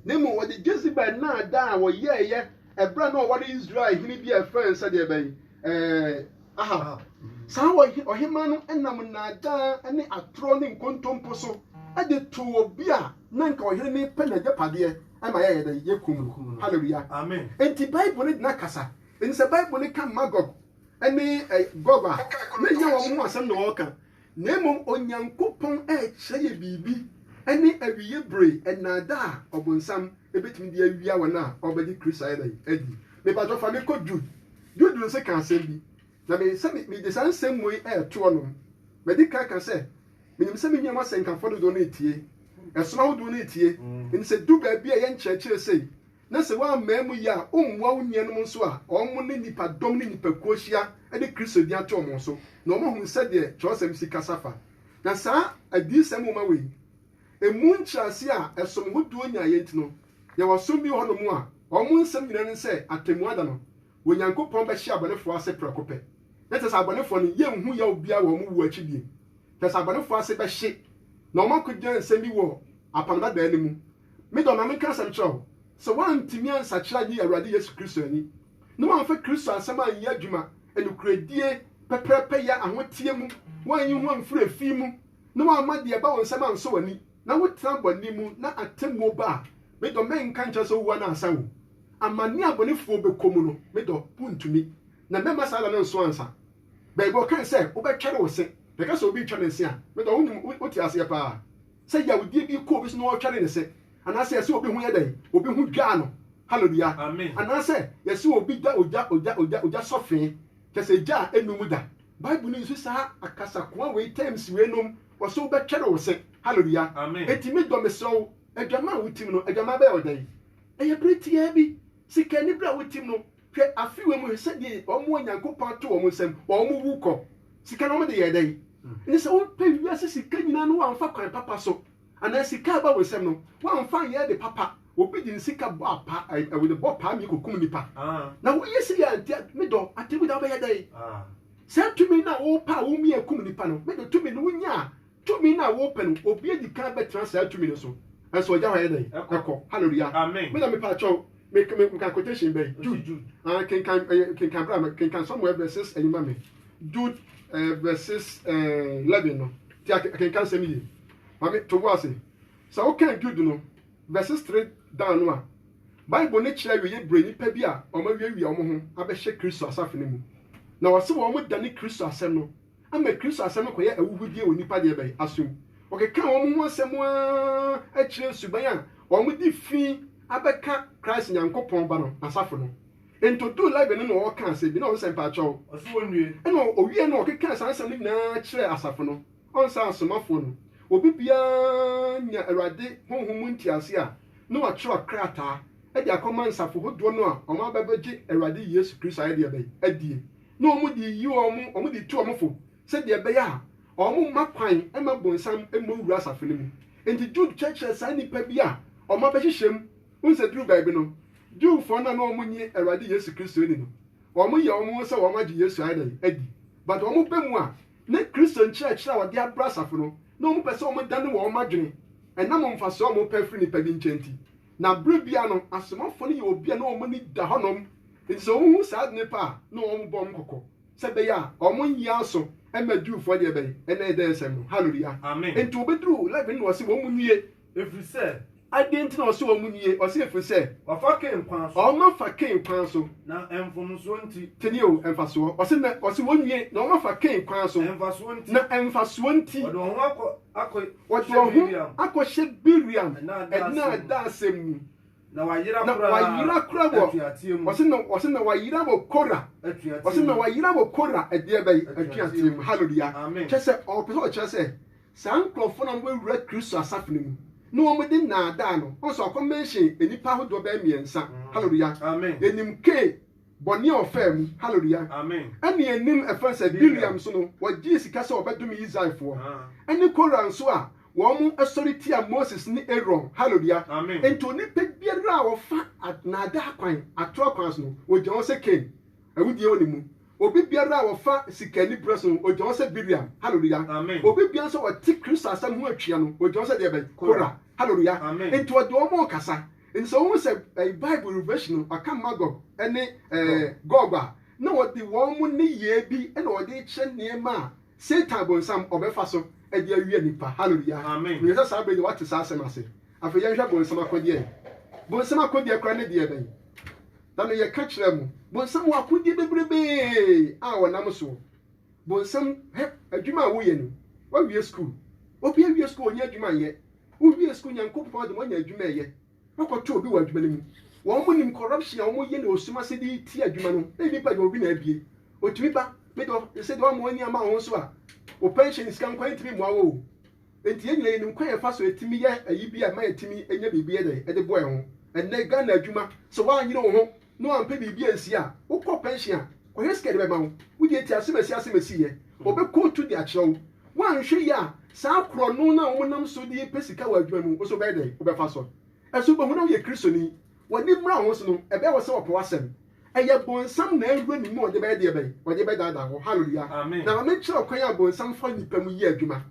na mmom wɔde Jezebel nnaadaa a wɔyɛeɛ ɛberɛ a na ɔware Israel hene bi a ɛfrɛ no sɛdeɛ bɛn? Ahab. Saa ɔhemmaa no nam nnaadaa ne atorɔ ne nkontompo so de too obi a na anka ɔhene no repɛ n'agyapadeɛ ma yɛyɛ dɛn? Yɛkum no. Hallelujah. Enti Bible no gyina kasa. Enti sɛ Bible no ka Magog ne Gog a, na ɛnyɛ wɔn ho asɛm na wɔreka. Na mmom Onyankopɔn rekyerɛ yɛn biribi ne awiei bere nnaadaa a Ɔbonsam betumi de awia wɔn a wɔbɛgye Kristo ayɛ dɛn adi. Mepakyɛw fa me kɔ Jude. Jude nso ka asɛm bi, na me sɛ mede saa nsɛmmua yi reto ɔnom. Madi kan aka sɛ, minim sɛ me nuanom asɛnkafo dodow no retie, som ahodoɔ no retie, enti sɛ edu baabi a ɛyɛ nkyerɛkyerɛ sei na sɛ woammaa mu yɛ a wommoa wo nuanom nso a, wɔn ne nnipadɔm ne nnipakuo hyia de Kristo din ato wɔn so, na wɔahunu sɛdeɛ twerɛsɛm si kasa fa. Na saa Adiyisɛm nwoma wei, ɛmu nkyerɛaseɛ a ɛsom hodoɔ nyaeɛ nti no, yɛwɔ ɔsom bi wɔ hɔnom a wɔn nsɛm nyina ne sɛ atɛmmuo da no Onyankopɔn bɛhye abɔnefoɔ ase prɛko pɛ, na kyerɛ sɛ abɔnefoɔ no yɛnhu yaw biara wɔ wɔn wuo akyi bio. Kyerɛ sɛ abɔnefoɔ ase bɛhye, na wɔakɔgyina nsɛm bi wɔ Apam Dadaa no mu Me dɔ, na meka asɛm kyerɛ wo, sɛ woantumi ansakyera anyi Awurade Yesu Kristo ani, na woamfa Kristo asɛm anyɛ adwuma nokorɛdie, pɛpɛrɛpɛyɛ, ahoteɛ mu, woanyi ho amfiri efi mu, na woamma deɛ ɛba wo nsam ansɔ w'ani, na wotena bɔne mu, na atemmuo ba a, me dɔ, mɛnka nkyerɛ sɛ wowu anaasɛ wo. Amane a abɔnefoɔ bɛkɔ mu no, me dɔ, wontumi, na mɛmma saa da no nso ansa. Baabi a ɔkae sɛ wobɛtwɛre wo se, yɛka sɛ obi retwa ne se a, me dɔ, wonim, wote aseɛ paa. Sɛ yawdie bi kɔ obi so na wɔtwɛre ne se, anaasɛ yɛse obi ho yɛ dɛn, obi ho dwaa no, Hallelua, anaasɛ yɛse obi da ogya, ogya, ogya, ogya sɔfee, kyɛsɛ egya a ɛnnu mu da. Bible no use saa akasakoa wei, terms wei nom, ɔse wobɛtwɛre wo se, Hallelua. Enti me dɔ mesrɛ wo, adwaman a wotim no, adwaman bɛyɛ wo dɛn? Ɛyɛ bere tiaa bi, sikani bere a wotim no, Hwɛ afe wei mu hwɛ sɛdeɛ wɔn a Nyankopɔn ato wɔn nsam wɔn wu kɔ. Sika no wɔn de yɛɛ dɛn? Ɛne sɛ wopɛ wiase sika nyinaa no wamfa kwan papa so anaa sika a ɛba wo nsam no wamfa anyɛ ade papa. Obi de ne sika bɔ apa ɛwɔ bɔ paa mie kɔkum nipa. Na woyɛ sɛ yɛ nti me dɔ atemu da wobɛyɛ dɛn? Saa tumi no a wopɛ a womia kum nipa no me dɔ tumi no wonya a Tumi no a wopɛ no, obi adi kan bɛtena saa tumi no so. Nso ogya hɔ yɛ dɛn? Ɛkɔ. Hallelujah. Me na mepɛ akyɛw. Me me me kan quotation bɛn? Jude. Ah, kenkan eh, kenkan bra me kenkan Samuel verses ɛyi ma me. Jude eh, verses eh, 11 no. Ti akenkan sɛm yie. Mame to wo ase. Sɛ wokan Jude no verses 3 down no a, Bible no kyerɛ awieyɛ bere nnipa bi a wɔawiawia wɔn ho abɛhyɛ Kristo asafo no mu. Na wɔse wɔn dane Kristo asɛm no ama Kristo asɛm no kɔyɛ ahuhudeɛ wɔ nnipa deɛ bɛn? asom. Wɔkekaa wɔn ho asɛm ara kyerɛɛ suban a wɔde fi abɛka Christ Nyankopɔn Ba no n'asafo no. Enti ɔduu Library no na ɔrekaa asɛm bi na ɔnsa mpaakyɛw. Ɛna ɔwiee no na ɔkekaa saa nsɛm no nyinaa kyerɛɛ asafo no, ɔnsa asomafoɔ no, obi biara nya Awurade Honhom mu ntease a na watwerɛ krataa de akɔma nsafo hodoɔ no a wɔn abɛbɛgye Awurade Yesu Kristo ayɛ deɛ bɛn? adie. na wɔde yi wɔn, wɔde tu wɔn fo sɛdeɛ ɛbɛyɛ a wɔmma kwan mma bonsam mmɔ nwura asafo no mu. Enti Jude kyerɛkyerɛ saa nnipa bi a wɔabɛhyehyɛ mu. Wohu sɛ duruu baabi no, Jewfoɔ no a na wɔnnye Awurade Yesu Kristo nni no, wɔyɛ wɔn ho sɛ wɔagye Yesu ayɛ dɛn? adi. But wɔba mu a, na Kristo nkyerɛkyerɛ a wɔde abrɛ asafo no, na wɔpɛ sɛ wɔdane wɔn adwene ɛnam mfasoɔ a wɔpɛ firi nnipa bi nkyɛn nti. Na bere biara no, asomafo no yɛ obi a na wɔn ani da hɔnom, enti sɛ wohu saa ade no pɛ a, na wɔbɔ wɔn kɔkɔ sɛ ɛbɛyɛ a wɔrenyɛ aso mma Jewfo deɛ bɛn, ɛnna ɛyɛ dɛn nsɛm no. Haleluya! Enti wɔbɛduru Levi no na wɔse wɔn nie. Ɛfiri sɛ. Adɛn nti na wɔse wɔn nie? Wɔse ɛfiri sɛ. Wɔafa Kain kwan so. Wɔafa Kain kwan so. Na mfomsoɔ nti. Tie nie o, mfasoɔ. Wɔse na, wɔse wɔn nie, na wɔafa Kain kwan so. Mfasoɔ nti. Na mfasoɔ nti. Wɔde wɔn ho akɔ, akɔ. Wɔde wɔn ho akɔhyɛ Bileam nnaadaa-sɛm mu, na wɔayera koraa wɔ atuateɛ mu. Wɔse na, wɔse na wɔayera wɔ Kora, atuateɛ wɔse na mu. wɔayera wɔ Kora ɛdeɛ bɛn? Atuateɛ Atuateɛ mu. mu. Hallelujah. Amen. Kyerɛ sɛ, ɔpɛ sɛ ɔkyerɛ sɛ, saa nkorɔfoɔ no a wɔbɛwura Kristo asafo no mu na wɔde nnaadaa no, woahu sɛ wakɔ mention nnipa ahodoɔ bɛyɛ mmiɛnsa. Hallelujah. Amen. Yɛnim K. Bɔne a ɔfaa mu. Hallelujah. Amen. Ɛna ɛnim ɛfã sɛ Bileam nso no ɔgyee sika sɛ ɔbɛdome Israelfoɔ. Ɛne Kora nso a wɔn sɔre tia Moses ne Aaron. Hallelujah. Amen. Enti onipa biara a ɔfa naadaa kwan, atorɔ akwan so no, wɔgya wɔn sɛ Kain. Awudie wɔ ne mu. Obi biara a ɔfa sika anibere so no, wɔgya wɔn sɛ Bileam. Hallelujah. Amen. Obi biara nso a ɔte Kristo asɛm ho atua no, wɔgya wɔn sɛ deɛ bɛn? Kora. Hallelujah. Amen. Enti ɔde wɔn kasa. Enti sɛ wohu sɛ Bible refresh no, wɔaka Magog ne Gog a, na wɔde wɔn nneyɛɛ bi na wɔde rekyerɛ nneɛma a Satan Bonsam ɔbɛfa so de awia nnipa. Hallelujah! Menim sɛ saa bere deɛ woate saa asɛm ase. Afei yɛnhwɛ Bonsam akodeɛ. Bonsam akodeɛ koraa ne deɛ bɛn? Na no yɛka kyerɛ mo, Bonsam wɔ akodeɛ bebrebee a ɔnam soɔ. Bonsam, hɛ, adwuma a woyɛ no, woawie sukuu. Obi awie sukuu, ɔnyɛ adwuma nyɛ. Wowie sukuu Nyankopɔn de mo anya adwuma ɛyɛ wakɔto obi wɔ adwuma no mu wɔn nim corruption a wɔn yɛ ne ɔsum ase de tia adwuma no na nipa deɛ obi na abie ɔtumi ba me dɔ yɛsɛ deɛ wɔn ani ama wo nso a wo pension sika nkwan ntumi mmoa wo nti yɛn nyina yɛnim kwan yɛfa so ɛtumi yɛ ayi bi a ma yɛtumi nya biribi ɛdɛ ɛde boa ho ɛnɛ Ghana adwuma sɛ woanyere wo ho na ɔammpa biribi annsi a, wokɔ pɛnhyen a, ɔhwɛ sika a yɛde bɛma wo. Wo deɛ tie asɛm a ɛsi asɛm a ɛsiiɛ. Ɔbɛkootu de akyerɛ wo. Woanhwɛ yie a, saa korɔno no a wɔnam so de pɛ sika wɔ adwuma mu, wo nso wobɛyɛ dɛn? Wobɛfa so. Ɛso wobɛhu na woyɛ Kristoni? W'ani mmra wo ho so no, ɛbɛyɛ wo sɛ wɔpɛ w'asɛm. Ɛyɛ Bonsam na awura ne mu a ɔde bɛyɛ deɛ bɛn? Ɔde bɛdaadaa wo. Hallelujah! Na ma menkyerɛ wo kwan a Bonsam fa nnipa mu yɛ adwuma.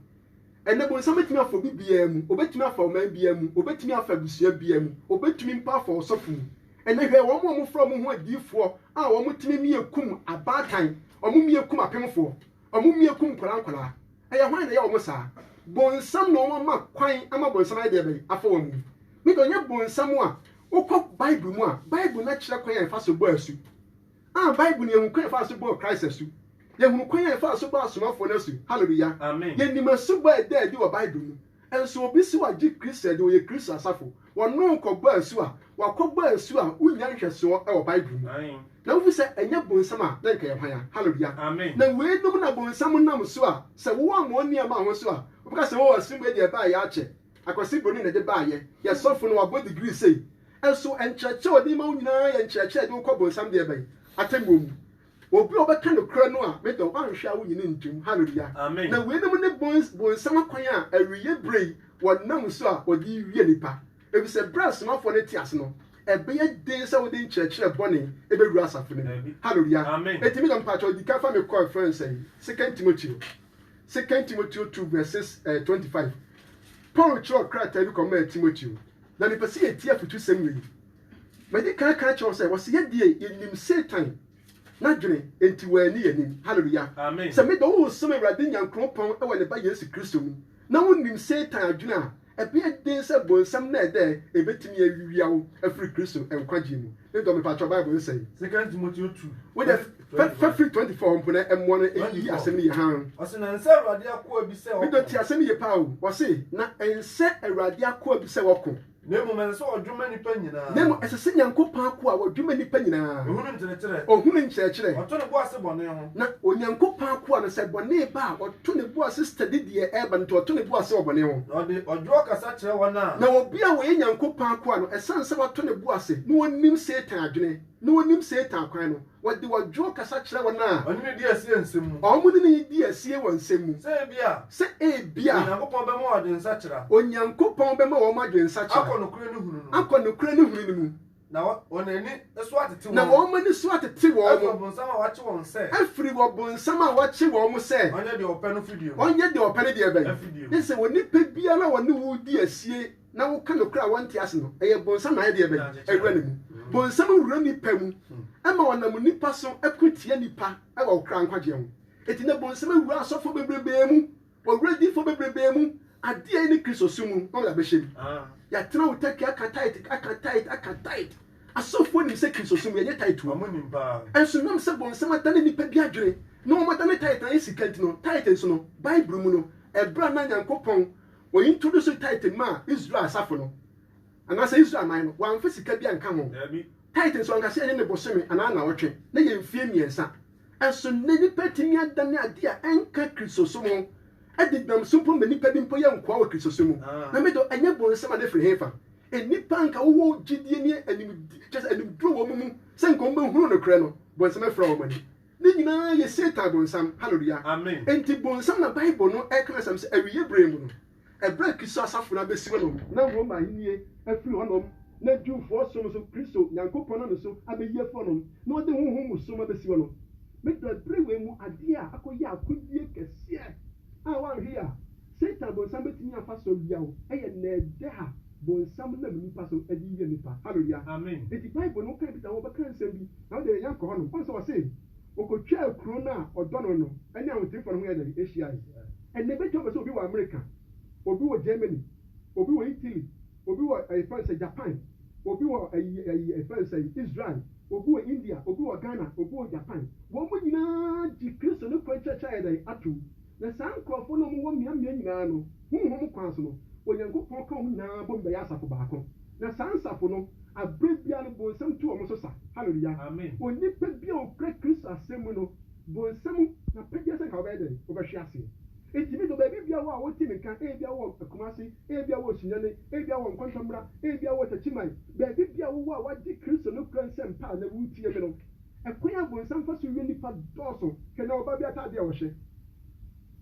Ɛnnɛ, bonsam betumi afa obi biara mu, obetumi afa ɔman biara mu, obetumi afa abusua biara mu, obetumi mpo afa ɔsɔfo mu. Ɛnnɛ, hwɛ wɔn a wɔfrɛ wɔn ho adiyifoɔ a wɔtumi mia kum abaatan, wɔmia kum apemfoɔ, wɔmia kum nkwadaa nkwadaa. Ɛyɛ hwan na ɛyɛ wɔn saa? Bonsam na wɔama kwan ama bonsam ayɛ deɛ bɛn? Afa wɔn mu. Ne deɛ ɔnyɛ bonsam a, wokɔ Bible mu a, Bible no akyerɛ kwan a yɛfa so bɔ asu. A Bible no, yɛhu kwan a ɛfaa so bɔɔ Christ asu. Yɛhunu kwan a ɛfaa so bɔɔ asomafoɔ no asu. Hallelujah! Yɛnim asubɔ a ɛda adi wɔ Bible mu. Nso obi se wagye Kristo adi, ɔyɛ Kristo asafo, wɔne wo kɔbɔ asu a, wakɔbɔ asu a wonnya nhwɛsoɔ wɔ Bible mu. Na wohu sɛ ɛnyɛ bonsam a, na nka yɛ hwan a? Hallelujah! Na weinom na bonsam nam so a, sɛ woammɔ nneɛma ho so a, ɔbɛka sɛ, Oh, asubɔ yi deɛ ɛbaeɛ akyɛ. Akwasi Broni na ɛde baeɛ. Yɛn sɔfo no, wabɔ degree sei. Nso nkyerɛkyerɛ a ɔde ma wo nyinaa yɛ nkyerɛkyerɛ a ɛde wo kɔ bonsam deɛ bɛn? Atemmuo mu. Obi a ɔbɛka nokorɛ no a, me dɔ, woanhwɛ a wonyi no ntom. Hallelujah! Na weinom ne bonsam akwan a awieɛ berɛ yi wɔnam so a wɔde wie nnipa. Efisɛ berɛ a asomafoɔ no te ase no, ɛbɛyɛ den sɛ wode nkyerɛkyerɛ bɔne ɛbɛwura asafo no mu. Hallelujah! Enti me dɔ, mpakyɛw di kan fa me kɔ ɛfrɛ no sɛn? Second Timoteo, Second Timoteo two verses twenty five. Paul kyerɛw krataa bi kɔmaa Timoteo. Na mepɛ sɛ yɛtie afotusɛm wei. Madi kan aka akyerɛ wo sɛ, wɔse yɛn deɛ yɛnim Satan n'adwene, enti wanni yɛn anim. Haleluya! Sɛ meda wo nsom Awurade Nyankoropɔn wɔ ne Ba Yesu Kristo mu, na wonim Satan adwene a, ɛbɛyɛ den sɛ bonsam nnɛɛdɛɛ bɛtumi awia wo afiri Kristo nkwagyeɛ mu. Ne dɔ me pakyɛw bible nsɛe. Second Timoteo two. Wo deɛ fa fa firi twenty four hɔ mpo na ɛmmoa no ɛyi asɛm no yie hann. Ɔse na nsɛ Awurade akoa bi sɛ ɔko. Me dɔ tie asɛm yie paa o. Ɔse na nsɛ Awurade akoa bi sɛ ɔko. Na mmom ɛsɛ sɛ ɔdwoma nnipa nyinaa. Na mmom ɛsɛ sɛ Nyankopɔn akoa ɔdwoma nnipa nyinaa. Ɔhunu nkyerɛkyerɛ. Ɔhunu nkyerɛkyerɛ. Ɔto ne bo ase bɔne ho. Na Onyankopɔn akoa no sɛ bɔne ba a ɔto. To ne bo ase study deɛ ɛreba no nti, ɔto ne bo ase wɔ bɔne ho. Na ɔde ɔdwoɔ kasa kyerɛ wɔn a. Na obi a ɔyɛ Nyankopɔn akoa no, ɛsiane sɛ wato ne bo ase na ɔnim Satan adwene, na ɔnim Satan akwan no, ɔde ɔdwoɔ kasa kyerɛ wɔn a. Ɔne no di asie nsɛm mu. Wɔn ne no di asie wɔ nsɛm mu. Sɛ ebia. Sɛ ebia. Onyankopɔn bɛma wɔn adwensakyera. Onyankopɔn bɛma wɔn adwensakyera. Akɔ nokorɛ ne hunu no mu. Akɔ nokorɛ ne hunu no mu. Na wɔn ani so atete wɔn. Na wɔn ani so atete wɔn. Afiri ɔbonsam a wakye wɔn sɛ. Afiri ɔbonsam a wakye wɔn sɛ. Ɔnyɛ deɛ ɔpɛ no fidie mu. Ɔnyɛ deɛ ɔpɛ no deɛ bɛn. Afidie mu. Ne sɛ onipa biara a ɔne wo di asie na woka nokorɛ a ɔnte ase no, ɛyɛ bonsam na ayɛ deɛ bɛn. Awura ne mu. Bonsam wura nnipa mu ma ɔnam nnipa so ko tia nnipa wɔ ɔkra nkwagyeɛ ho. Enti na bonsam awura asɔfoɔ bebrebee mu. Ɔwerɛ di fa bebrebee mu, adeɛ a ɛne Kristo som mu, na ɔde abɛhyɛ mu. Yɛatena wo Turkey aka tithe, aka tithe, aka tithe. Asɔfoɔ nim sɛ Kristo som yɛnyɛ tithe tuo. Nso nam sɛ bɔnsam adane nnipa bi adwene na wɔn adane tithe no ayɛ sika nti no, tithe nso no, Bible mu no, ɛberɛ a na Nyankopɔn wɔ introduce tithe maa Israel asafo no, anaasɛ Israel man no, wɔamfa sika bi anka ho. Tithe nso anka sɛ ɛne ne bosome anaa nnawɔtwe, na ɛyɛ mfeɛ mmiɛnsa. So nnɛ nnipa atumi adane ade a ɛnka Kristosom ho adi denam so mpo ma nnipa bi mpo yɛ nkoa wɔ Kristosom mu? Na me de, ɛnyɛ bɔne sɛ ma no firi hefa? Nnipa a anka wɔwɔ gyidie ne animdeɛ, kyerɛ sɛ animduro wɔ wɔn mu sɛ anka wɔbɛhunu nokorɛ no, bonsam afira wɔn ani. Ne nyinaa yɛ Satan Bonsam. Hallelujah! Enti Bonsam na Bible no reka no asɛm sɛ awieeɛ berɛ mu no. Ɛberɛ a Kristo asafo no abɛsi hɔ nom, na Roma ahennie afiri hɔ nom, na Jewfoɔ som nso Kristo Nyankopɔn no nso abɛyi afiri hɔ nom, na wɔde honhom mu som abɛsi hɔ nom. Me dɔ, ɛberɛ wei mu adeɛ a akɔyɛ akodie kɛseɛ a woanhwe yɛ a Satan bonsam bɛtumi afa so awia wo yɛ nnɛɛdɛɛ a bonsam nam nnipa so de wia nnipa. Hallelua! Enti Bible no, wokan Peter ho a, ɔbɛka nsɛm bi na wode yɛn akɔ hɔ nom. Woahu sɛ ɔse, Ɔkɔtwaa kuro no a ɔdɔ no no ne ahoteefoɔ no ho yɛɛ dɛn? Hyiae. Ɛnnɛ ɛbɛtwa bɛ sɛ obi wɔ Amerika, obi wɔ Germany, obi wɔ Italy, obi wɔ ɛfrɛ no sɛ Japan, obi wɔ ayi ayi ɛfrɛ no sɛ Israel, obi wɔ India, obi wɔ Ghana, obi wɔ Japan. Wɔn mo nyinaa gye Kristo ne kwan kyerɛkyerɛ ayɛ dɛn? atom. Na saa nkorɔfoɔ no a wɔn wɔ mmeammea nyinaa no, honhom kwan so no, Onyankopɔn ka wɔn nyinaa bom bɛyɛ asafo baako. Na saa nsafo no, aberɛ biara no, bonsam tu wɔn so sa. Hallelujah! Onipa biara a okura Kristo asɛm mu no, Bɔ nsam na pagya sɛ nka wobɛyɛ dɛn? Wobɛhwe ase. Enti me deɛ baabi biara wɔ a wotie me nka, ebia wowɔ Kumasi, ebia wowɔ Sunyani, ebia wowɔ Nkwantambra, ebia wowɔ Takyiman, baabi biara wowɔ a woagye Kristo no kura nsɛmpa a na woretie me no, ɛkwan a bonsam fa so wie nnipa dɔɔso, hwɛ na ɔbaa bi ataadeɛ a ɔhyɛ.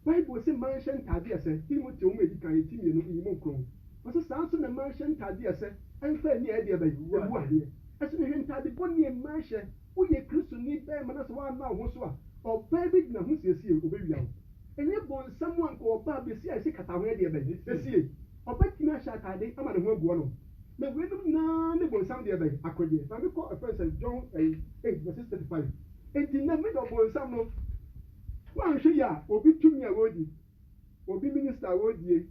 Bible se mmaa nhyɛ ntaadeɛ a ɛsɛ, Timoteo nwoma a edi kan, ti mmienu, nyimu nkron. Ɔse saa nso na mmaa nhyɛ ntaadeɛ a ɛsɛ, ɛmfa ani a ɛyɛ deɛ bɛn? Awuadeɛ. Ɛso na hwɛ ntaade bɔne a mmaa hyɛ. Woyɛ Kristoni barima na sɛ woanna wo ho so a, ɔbaa bi de ne ho siesie wo, obewia wo. Ɛnyɛ bonsam a anka ɔbaa besi a esi kata ho ɛdeɛ bɛn? Esie. Ɔbɛtumi ahyɛ ataade ama ne ho agu ɔnom. Na weinom nyinaa ne bonsam deɛ bɛn? Akodeɛ. Maame kɔ ɛfrɛ no sɛ John ɛyi eight verses thirty five. Enti nnɛ me dɔ bonsam no, woanhwɛ yie a obi tumi a ɔredi. obi minister a ɔredie,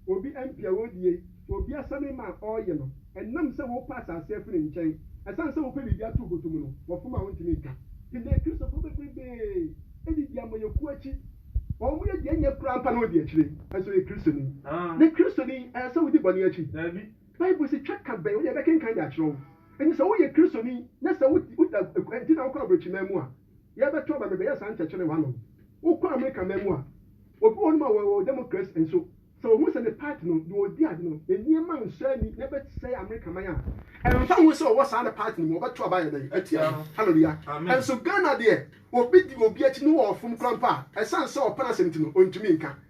obi MP a ɔredie, obi assignment a ɔreyɛ no, ɛnam sɛ wopɛ asase afiri ne nkyɛn, ɛsiane sɛ wopɛ biribi ato wo bɔtɔ mu no, wɔfom a wontumi nka. Ɛnnɛ Kristofo bebrebe di deɛ amanyɔkuo akyi, wɔn yɛ deɛ ɛnyɛ koraa mpa na wɔdi akyire. Ɛnso ɔyɛ Kristoni? Nnɛ Kristoni ɛyɛ sɛ wodi bɔne akyi? Daabi. Bible se twa ka bɛn wo deɛ yɛbɛkenkan de akyerɛ wo? Enti sɛ woyɛ Kristoni na sɛ woda nti na wokɔ aborɔkyiman mu a, Yɛbɛtɔ aba bɛbɛyɛ saa nkyɛkyerɛ wɔ ano no. Wokɔ Amerika man mu a, obi wɔ hɔnom a ɔwɔ Democrats nso, sɛ ohu sɛ ne party no, deɛ ɔdi ade no, ne nneɛma nsɔ ani na ɛbɛsɛe Amerika man a, ɛmfa ho sɛ ɔwɔ saa ne party no mu, ɔbɛto aba ayɛ dɛn atia no. Hallelujah! Nanso Ghana deɛ, obi di obi akyi na ɔfom koraa mpo a, ɛsiane sɛ ɔpɛ n'asɛm nti no, ɔntumi nka.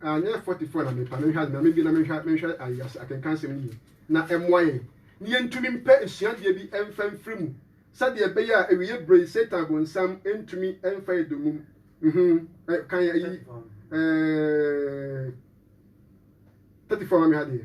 Anyɛ fɔtifɔ na mepɛ a, menhwɛ ade, Nyame bi na menhwɛ menhwɛ ayi ase akenkan asɛm no yie na ɛmmoa yɛn na yɛntumi mpɛ asuadeɛ bi mfa mfiri mu sɛdeɛ ɛbɛyɛ a awieɛ berɛ yi Satan bonsam ntumi mfa yɛn dommum mhm eh, kan ayi eh, 34 ma me ha deɛ.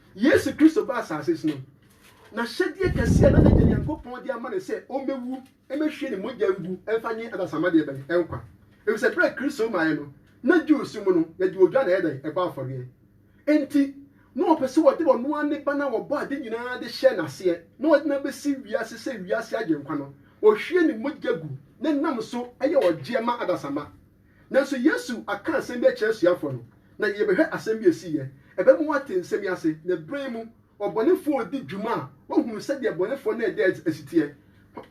Yesu Kristo baa asase so no, n'ahyɛdeɛ kɛseɛ a na n'Agya Nyankopɔn de ama no sɛ ɔmmɛwu mmɛhwie ne mogya ngu mfa nye adasamma deɛ bɛn? Nkwa. Efisɛ berɛ a Kristo maeɛ no, na Jews mu no, yɛgye odwa na ɛyɛ dɛn? Ɛbɔ afɔreɛ. Enti, na wɔpɛ sɛ wɔde ɔno ara ne Ba no a wɔbɔɔ ade nyinaa de hyɛɛ no aseɛ na wɔde no abɛsi wiase sɛ wiase Agyenkwa no, ɔhwie ne mogya gu na ɛnam so yɛ ɔgyeɛ ma adasamma. Nanso Yesu aka asɛm bi akyerɛ asuafo no, na yɛbɛhwɛ asɛm bi a esiiɛ. Ɛbɛma woate nsɛm yi ase, na bere mu, ɔbɔnefoɔ a ɔdi dwuma a wahunu sɛdeɛ bɔnefoɔ no a ɛda asi teɛ.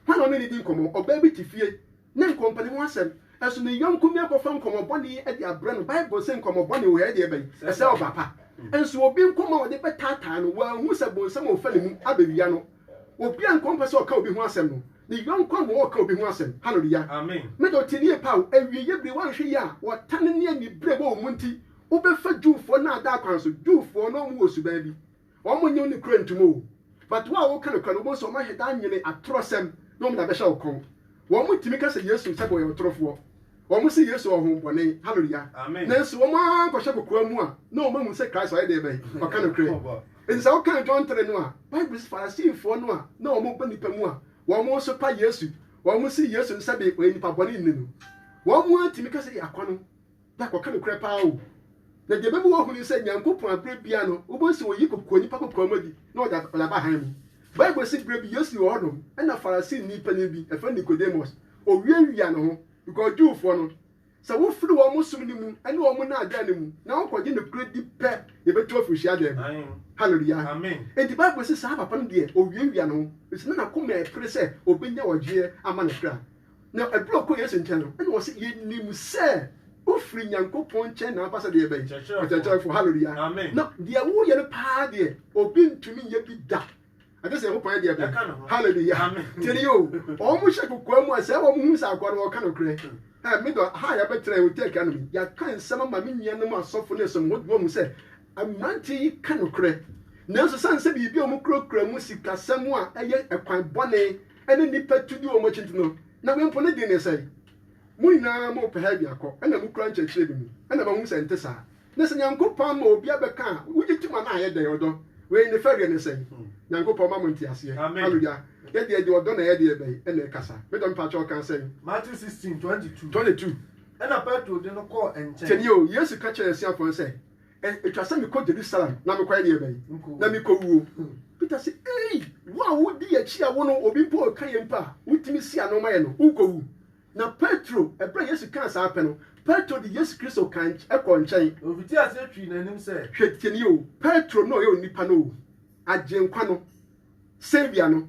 Hwan na ɔne no di nkɔmmɔ? Ɔbaa bi te fie, na nkɔmpɛ ne ho asɛm, nanso ne yɔnko nua kɔfa nkɔmmɔbɔne yi de abrɛ no. Bible se nkɔmmɔbɔne wɔ yɛ deɛ bɛn? Ɛsɛe ɔba pa. Nanso obi nkɔmmɔ a ɔde bɛtaataa no, wanhu sɛ bonsam a ɔfa ne mu abɛwia no. Obiara nko mpɛ sɛ ɔka obi ho asɛm no, ne yɔnko a ma ɔka obi ho asɛm. Haleluya! Me de, ɔte nie paa o. Awieeɛ bere, woanhwɛ yie a, ɔtan ne anibere a ɛwɔ wɔn mu nti, wobɛfa Jewfoɔ nnaadaa kwan so. Jewfoɔ no, wɔwɔ suban bi. Wɔnnye wo nokorɛ ntom o. But wo a woka nokorɛ no, wobɛhu sɛ wɔahwɛ de anwene atorɔsɛm na wɔde abɛhyɛ wo kɔn. Wɔtumi ka sɛ Yesu nhyɛ da ɔyɛ ɔtorofoɔ. Wɔse Yesu ɔhombɔne. Hallelujah. Nanso wɔn ara nkɔhyɛ kokoa mu a na wɔn ahu sɛ Christ ɔyɛ deɛ bɛn ɔka nokorɛ. Enti sɛ wokan John 3 no a, Bible si Farisifoɔ no a na wɔn ba nipa mu a wɔn nso pa Yesu. Wɔn se Yesu nhyɛ de ɔyɛ nipa bɔne nne no. Wɔn ara tumi ka sɛ yɛ akɔno. Pak, ɔka nokorɛ paa o. Na deɛ ɛbɛma woahunu sɛ Nyankopɔn a berɛ biara no wobɛhu sɛ ɔyi kokoa nnipa kokoa mu adi na ɔde ɔde aba hann mu. Bible se berɛ bi Yesu wɔ hɔnom ɛna Farisini panin bi ɛfrɛ no Nicodemus ɔwiawia ne ho because Jewfoɔ no sɛ wofiri wɔn som no mu ɛne wɔn nnaadaa no mu na wokɔgye nokorɛ di pɛ yɛbɛtu afiri hyiadan mu. Hallelujah. Enti Bible se saa papa no deɛ ɔwiawia ne ho ɛfiri sɛ na nakoma ɛpere sɛ ɔbɛnya ɔgyeɛ ama ne kra. Na ɛberɛ a ɔkɔɔ Yesu nkyɛn no, ɛna wɔse, Yɛnim sɛ wofiri Nyankopɔn nkyɛn na woaba sɛ deɛ bɛn? Ɔkyerɛkyerɛfoɔ. Hallelujah. Na deɛ woreyɛ no paa deɛ, obi ntumi nyɛ bi da. Agye sɛ Nyankopɔn yɛ deɛ bɛn? Hallelujah. Tie ni o, wɔn hyɛ kokoa mu a sɛ wɔn hu sɛ akoa no wɔka nokorɛ. Ɛ, me dɔ, ha a yɛabɛtena yi, Turkey anom yi, yɛaka nsɛm ama me nuanom asɔfo ne som hɔ de wɔahu sɛ mmeranteɛ yi ka nokorɛ. Nanso sane sɛ biribi a wɔkurakura mu sikasɛm a ɛyɛ ɛkwan bɔne ne nnipa tu di wɔn akyi nti no, na wei mpo ne den resɛe. Mo nyinaa mopɛ ha biako na mukura nkyerɛkyerɛ bi mu, ɛnna moahu sɛ ɛnte saa. Na sɛ Nyankopɔn ama obi abɛka a, wogye tom anaa ɛyɛ dɛn? Ɔdɔ. Wei ne fɛreɛ no sɛn? Nyankopɔn mma mo nteaseɛ. Hallelujah. Yɛ deɛ deɛ ɔdɔ na ɛyɛ deɛ bɛn na ɛkasa. Me dɔ mepakyɛ ɔkaa sɛn? Matthew sixteen, twenty two. Twenty two. Ɛnna Petro de no kɔɔ nkyɛn. Tie nie o, Yesu ka kyerɛɛ n'asuafoɔ no sɛ, Ɛ, etwa sɛ mekɔ Jerusalem na mekɔyɛ deɛ bɛn? Na mekɔwuo. Peter se, Ei, wo a wodi yɛn akyi a wo no obi mpo reka yɛn mpo a, wotumi si ano ma yɛn no, wonkɔwu? Na Petro, ɛberɛ a Yesu kaa saa pɛ no, Petro de Yesu Kristo kaa nky kɔɔ nkyɛn. Ɔfitii aseɛ twii n'anim sɛ. Hwɛ, tie nie o, Petro na ɔyɛ onipa no o, Agyenkwa no, Saviour no.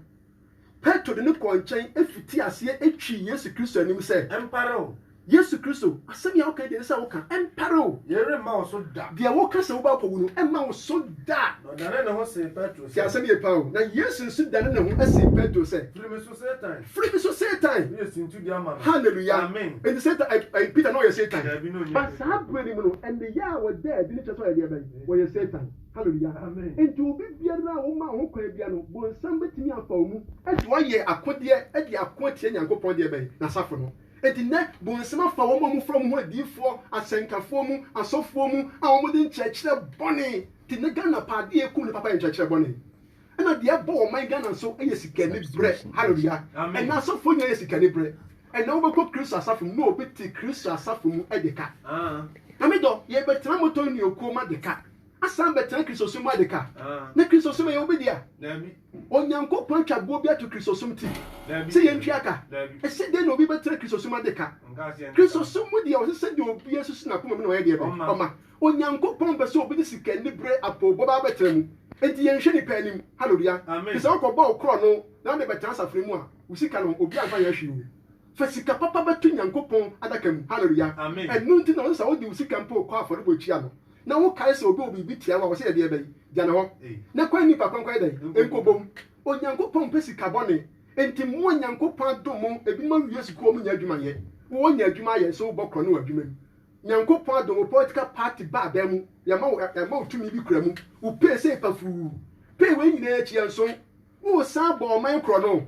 Petro de no kɔɔ nkyɛn fitii aseɛ twii Yesu Kristo anim sɛ. Ɛmpare wo. Yesu Kristo, asɛm yi a woka yi deɛ ɛsɛ sɛ woka, ɛmpare wo. Yei remma wo so da. Deɛ woka sɛ wobɛkɔ awu no, ɛmma wo so da. Na ɔdanee ne ho see Petro sɛ. Tie asɛm yie paa o. Na Yesu nso danee ne ho see Petro sɛ. Firi me so, Satan! Firi me so, Satan! Woyɛ sintudua ma me. Hallelujah! Amen! Enti Satan, ɛɛ, Peter na ɔyɛ Satan. Daabi, na ɔnyɛ Peter. But saa berɛ no mu no, nneyɛɛ a wɔdaa adi no kyerɛ sɛ wɔyɛ deɛ bɛn? Wɔyɛ Satan. Hallelujah! Enti obi biara a woma ho kwan biara no, bonsam betumi afa wo mu de wo ayɛ akodeɛ de ako atia Nyankopɔn deɛ bɛn? N'asafo no. Enti nnɛ, bonsam afa wɔn a wɔfrɛ wɔn ho adiyifoɔ, asɛnkafoɔ mu, asɔfoɔ mu a wɔde nkyerɛkyerɛ bɔne, te nnɛ Ghana paa adeɛ a ɛkum nnipa paa yɛ nkyerɛkyerɛ bɔne. Ɛna deɛ ɛbɔ ɔman Ghana nso yɛ sikani brɛ. Hallelujah. Amen. Ɛna asɔfoɔ nyinaa yɛ sikani brɛ. Ɛna wobɛkɔ Kristo asafo mu na obi te Kristo asafo mu de ka. Ah. Na me dɔ, yɛbɛtena motor ne okuo ma de ka. Asan bɛtena Kristosom ma de ka. Ah. Na Kristosom ɛyɛ obi dea. Dabi. Onyankopɔn atwa boɔ bi ato Kristosom ti. Dabi. Sɛ yɛntwea ka. Dabi. Ɛsɛ dɛn na obi bɛtena Kristosom ma de ka? Nka aseɛ nka. Kristosom mu deɛ ɔsɛ sɛ deɛ obiara susu n'akoma mu na ɔyɛ deɛ bɛn? Ɔma. Ɔma. Onyankopɔn pɛ sɛ obi de sika anibere apoobɔ ba abɛtena mu. Enti yɛnhwɛ nnipa anim. Hallelua. Enti sɛ wokɔbɔ wo korɔno na wode bɛtena asafo no mu a, wo sika no, obiara mfa nyɛ hwee o. Fa sika papa bɛto Nyankopɔn adaka mu. Hallelua. Ɛno nti na wose sɛ wode wo sika mpo kɔ afɔrebuakyia no, na wokae sɛ obi wɔ biribi tia wo a, wɔse yɛ deɛ bɛn? Gya ne hɔ, na kɔ nnipa kwan kɔyɛ dɛn? Nkɔbɔ mu. Onyankopɔn mpɛ sika bɔne. Enti mo a Nyankopɔn adom mo, ebinom awie sukuu a wɔnnya adwuma nyɛ. Wowɔ nya adwuma ayɛ nso wobɔ korɔno wɔ adwuma mu. Nyankopɔn adom wo political party ba aban mu yɛma wo yɛma wo tumi bi kura mu wo pay sɛ pafuu pay wei nyinaa akyi ɛnso wo san bɔ ɔman korɔ no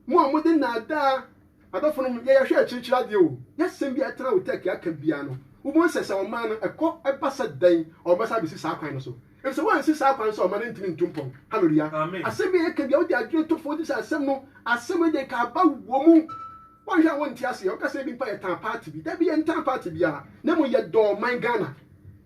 mo a mo de naadaa adɔfo no yɛ yɛhwɛ akyirikyiri adeɛ o yɛsɛm bi atena wo tɛki aka bia no wobɔ nsɛ sɛ ɔman no ɛkɔ ɛba sɛ dɛn ɔmo bɛsa abɛsi saa kwan no so efisɛ wɔansi saa kwan so ɔman no ntumi ntu mpɔn hallelujah asɛm bi a yɛka bia wode adwene to fo wode sɛ asɛm no asɛm no deɛ nka aba wɔ mu Wonhwɛ a wonte aseɛ, woka sɛ ebi mpo a yɛtaa party bi, dabi yɛntaa party biara, na mmom yɛdɔ ɔman Ghana,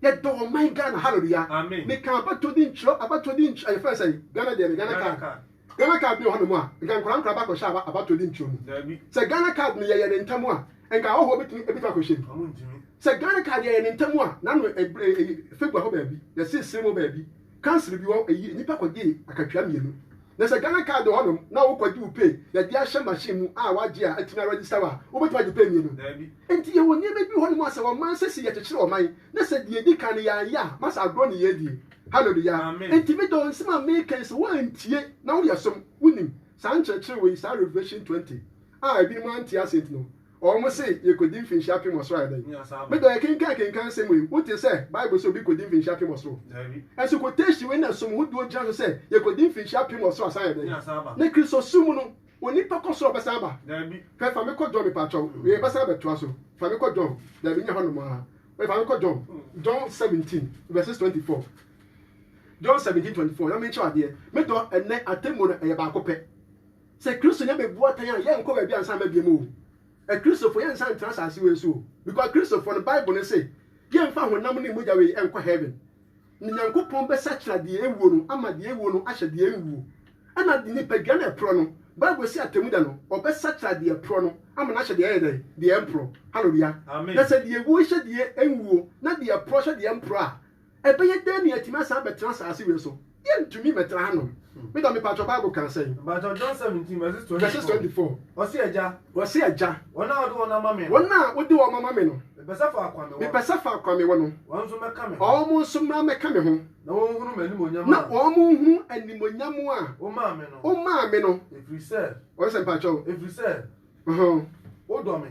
yɛdɔ ɔman Ghana, hallelujah, meka abatodi nkyerɛ, abatodi nkyerɛ, ɛyɛ fɛn sɛ Ghana deɛ no Ghana card, Ghana card bi wɔ hɔnom a, nka nkora nkora bakɔhyɛ abatodi nkyerɛ mu, sɛ Ghana card no yɛyɛ ne ntam a, nka ahɔhoɔ bɛtumi ɛbɛtumi akɔhyɛ mu, sɛ Ghana card yɛyɛ ne ntam a, nano ɛbrɛ ɛyi febua hɔ baabi, yɛsesere mu baabi, Council bi hɔ eyi nnipa kɔgye akatua mmienu. Na sɛ Ghana card wɔ hɔnom na wokɔgye wo pay yɛde ahyɛ machine mu a wagye a atumi aregister wo a, wobɛtumi agye pay mmienu. Enti yɛwɔ nneɛma bi wɔ hɔnom a sɛ ɔman sɛsi yɛkyekyere ɔman na sɛ deɛ edi kan no yɛanyɛ a ma sɛ agorɔ ne yɛredie. Hallelujah. Enti me dɔ nsɛm a meka yi sɛ woantie na woyɛ som wonim saa nkyerɛkyerɛ wei saa Revelation twenty a ebinom ante ase nti no, Wɔn se yɛkɔdi mfinhyia apem wɔ soro a, ɛdɛn? Me dɔ, yɛkenkan kenkan nsɛm wei, wote sɛ Bible se obi kɔdi mfinhyia apem wɔ soro? Nso quotation wei na som ho duo gyina so sɛ yɛkɔdi mfinhyia apem wɔ soro asan ayɛ dɛn? Na Kristosom mu no, onipa kɔ soro a ɔbɛsan aba? Hwɛ, fa me kɔ John mepakyɛw, yɛbɛsan abɛtoa so. Fa me kɔ John, daabi nyɛ hɔnom ara, wei fa me kɔ John, John 17 verses 24. John 17 24 na menkyerɛw adeɛ. Me dɔ, ɛnnɛ atemmuo no ɛyɛ baako pɛ. Sɛ Kristo nya bebu atɛn a, yɛnkɔ baabi a nsa mma bio o. Akristofo, yɛnsan ntra asase wei so o. Because Kristofo no, Bible no se, yɛmfa honam ne mogya wei nkɔ heaven. Na Nyankopɔn bɛsakyera deɛ awuo no ama deɛ awuo no ahyɛ deɛ anwuo. Ɛna nipadua no a ɛporɔ no, Bible se atemmuda no, ɔbɛsakyera deɛ ɛporɔ no ama no ahyɛ deɛ ɛyɛ dɛn? Deɛ ɛmporɔ. Hallelujah. Na sɛ deɛ awuo hyɛ deɛ anwuo, na deɛ ɛporɔ hyɛ deɛ ɛmporɔ a, Ɛbɛyɛ dɛn na yɛatumi asan abɛtena asase wei so? Yɛrentumi mmɛtra hanom. Me dɔ, mepaatwɔ Bible kaa sɛn? Mepaatwɔ John 17 verses 24. Verses 24. Ɔse Agya. Ɔse Agya. Wɔn a wode wɔn ama me no. Wɔn a wode wɔn ama me no. Mepɛ sɛ faako a mewɔ no. Mepɛ sɛ faako a mewɔ no. Wɔn nso mmɛka me ho. Wɔn nso mmra mmɛka me ho. Na wɔnhunu m'animuonyam a. Na wɔnhunu animuonyam a. Womaa me no. Womaa me no. Ɛfiri sɛ. Ɔse Mepaatwɔ o. Ɛfiri sɛ. Ɔhɔn. Wodɔ me.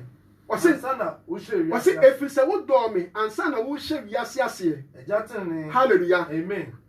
Ɔse, ɔse, ɛfiri sɛ wodɔɔ me ansa na worehyɛ wiase aseɛ. Hallelujah.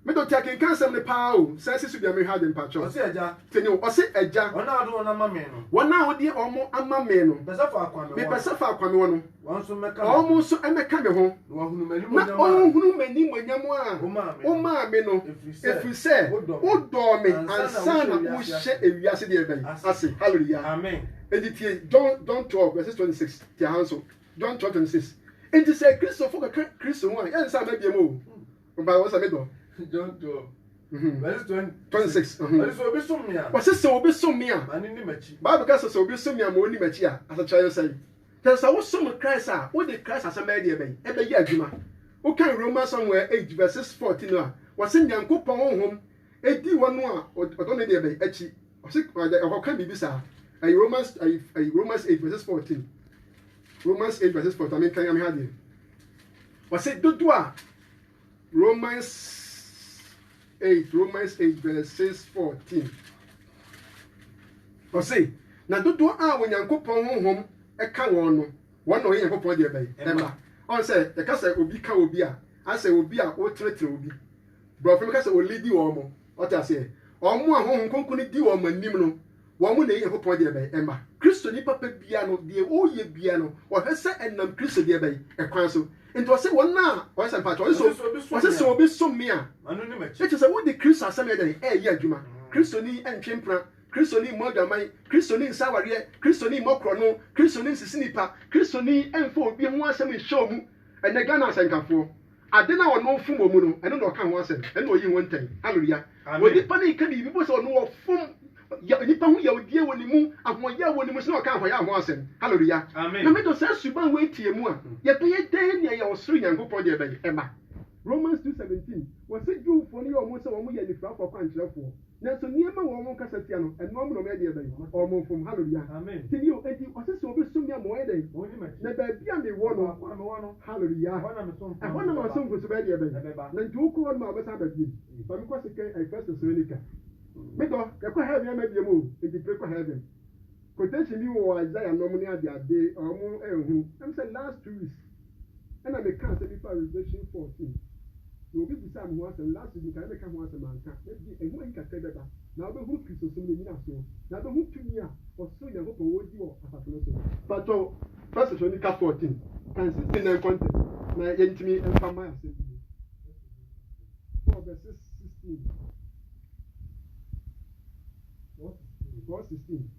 Me de ɔte akenkan asɛm no paa o, san si so bia mehwɛ ade mpakyɛw. Ɔse, Agya. Tini o, ɔse, Agya. Wɔn a wode wɔn ama me no. Wɔn a wode wɔn ama me no. Mepɛ sɛ faako a mewɔ no. Mepɛ sɛ faako a mewɔ no. Wɔn nso mmɛka me ho. Wɔn nso mmɛka me ho. Na wɔahunu m'animuonyam a. Na wɔahunu m'animuonyam a. Womaa me no. Womaa me no. Ɛfiri sɛ. Ɛfiri sɛ. Wodɔ me. Wodɔɔ me ansa na worehyɛ wiase deɛ bɛn. Ase. Hallelujah. Amen. Enti tie John John twelve verse twenty six te aha nso John twelve twenty six enti sɛ Kristofo kɔka Kristo ho a yɛn nsa ama biam o ɔbaa wɔn sɛ me dɔ. John twelve. Mhm. Verse twenty. Twenty six. Mhm. Ɔde sɛ obi som me a. Wɔsɛ sɛ obi som me a. Ma ne nim akyi. Bible ka sɛ sɛ obi som me a ma onim akyi a asekyerɛ ne sɛn? Kyerɛ sɛ wosom Christ a wode Christ asɛm bɛyɛ deɛ bɛn ɛbɛyɛ adwuma. Wokan Romans Samuel eight verses fourteen no a wɔsɛ Nyankopɔn honhom Edi wɔn a wɔdɔ no deɛ bɛn akyi? Ɔse ɔkɔka biribi saa. Ɛyɛ Romans ayi ayi Romans eight verses fourteen. Romans eight verses fourteen. Maame nkan ame ha deɛ. Ɔse dodo a Romans eight Romans eight verses fourteen. Ɔse na dodoɔ a Onyankopɔn honhom ka wɔn no, wɔn na ɔyɛ Nyankopɔn deɛ bɛn ɛma. Ɔn sɛ yɛka sɛ obi ka obi a, asɛ obi a wotenetene obi. Borɔfo no ka sɛ ɔlidi wɔn. Ɔte aseɛ? Wɔn a Honhom Kronkron no di wɔn anim no, wɔn na ɛyi Nyankopɔn deɛ bɛn? Mma. Kristoni papa biara no, deɛ ɔreyɛ biara no, ɔhwɛ sɛ ɛnam Kristo deɛ bɛn? Kwan so. Enti ɔse wɔn a, ɔse sɛ, mpakyɛ, ɔse sɛ, ɔse sɛ obi som me a, ɛkyerɛ sɛ wode Kristo asɛm yɛ dɛn? Ɛreyɛ adwuma. Kristoni ntwe mpena, Kristoni mmɔ adwaman, Kristoni nsa awareɛ, Kristoni mmɔ korɔno, Kristoni nsisi nnipa, Kristoni mfa obi ho asɛm nhyɛ wɔn mu. Ɛnnɛ Ghana asɛnkafoɔ. Ade no a ɔno ɔfom wɔ mu no, ɛno na ɔka ho asɛm, ɛno na ɔyi ho ntɛn. Hallelujah! Amen. Onipa no nka biribi mpo sɛ ɔno ɔfom ya, nipa ho yawdie wɔ ne mu, ahoɔyaw wɔ ne mu, sɛ na ɔka ahoɔyaw ho asɛm. Hallelujah! Amen. Nyame dɔ saa suban wei teɛ mu a, yɛbɛyɛ dɛn na yɛn ɔsoro Nyankopɔn deɛ bɛyɛ, ɛma? Romans two seventeen, wɔse Jewfoɔ no yɛ wɔn sɛ wɔn yɛ anifirafoɔ akwankyerɛfoɔ. Nanso nneɛma wɔ wɔn kasa tia no ɛnoa mo na wɔyɛ deɛ bɛn? Wɔn fom. Hallelujah. Te bio, enti ɔse sɛ wɔbɛsom me a ma wɔnyɛ dɛn? Na baabi a mewɔ no, Hallelujah, ɛhɔ na me asomfo nso bɛyɛ deɛ bɛn? Na enti wokɔ hɔ nom a wɔbɛsan aba bio. Ma me kɔ se kɛn I first Thessalonica. Me dɔ, yɛkɔ heaven ama biom o, enti pere kɔ heaven. Quotation bi wɔ Isaiah nom ne adeade a wɔn ɛnhunu. Ɛm sɛ last two weeks. Ɛnna mekaa asɛm bi faa Revelation fourteen, na obi bisaa me ho asɛm last week, nka na meka ho asɛm anka, mede ɛho ayi kakra yi bɛba, na wobɛhunu Kristosom no nnyinasoɔ, na wobɛhu tumi a ɔsoro Nyankopɔn wɔ di wɔ asafo no so. Mpakyɛw, First Thessalonica fourteen, ka nsetie na nkɔ ntɛm, na yɛntumi mfa mma yɛn asɛm bio. Paul verses sixteen, Paul sixteen.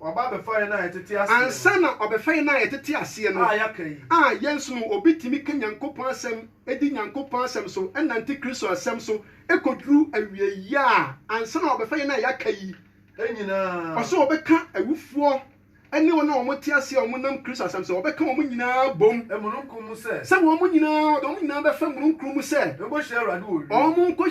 Waba abɛfa yɛn a yɛtete aseɛ no. Ansa na ɔbɛfa yɛn a yɛtete aseɛ no. A yɛaka yi. A yɛnso no, obi tumi ka Nyankopɔn asɛm, di Nyankopɔn asɛm so, nante Kristo asɛm so, kɔduru awieeɛ a, ansa na ɔbɛfa yɛn a yɛaka yi. Nyinaa. Ɔse ɔbɛka awufoɔ ne wɔn a wɔte aseɛ a wɔnam Kristo asɛm so, ɔbɛka wɔn nyinaa bom. Mununkum mu sɛ. Sɛ wɔn nyinaa, ɔde wɔn nyinaa bɛfa mununkum mu sɛ. Nkɔhyia Awurade wɔ ewiem. Wɔn nkɔ.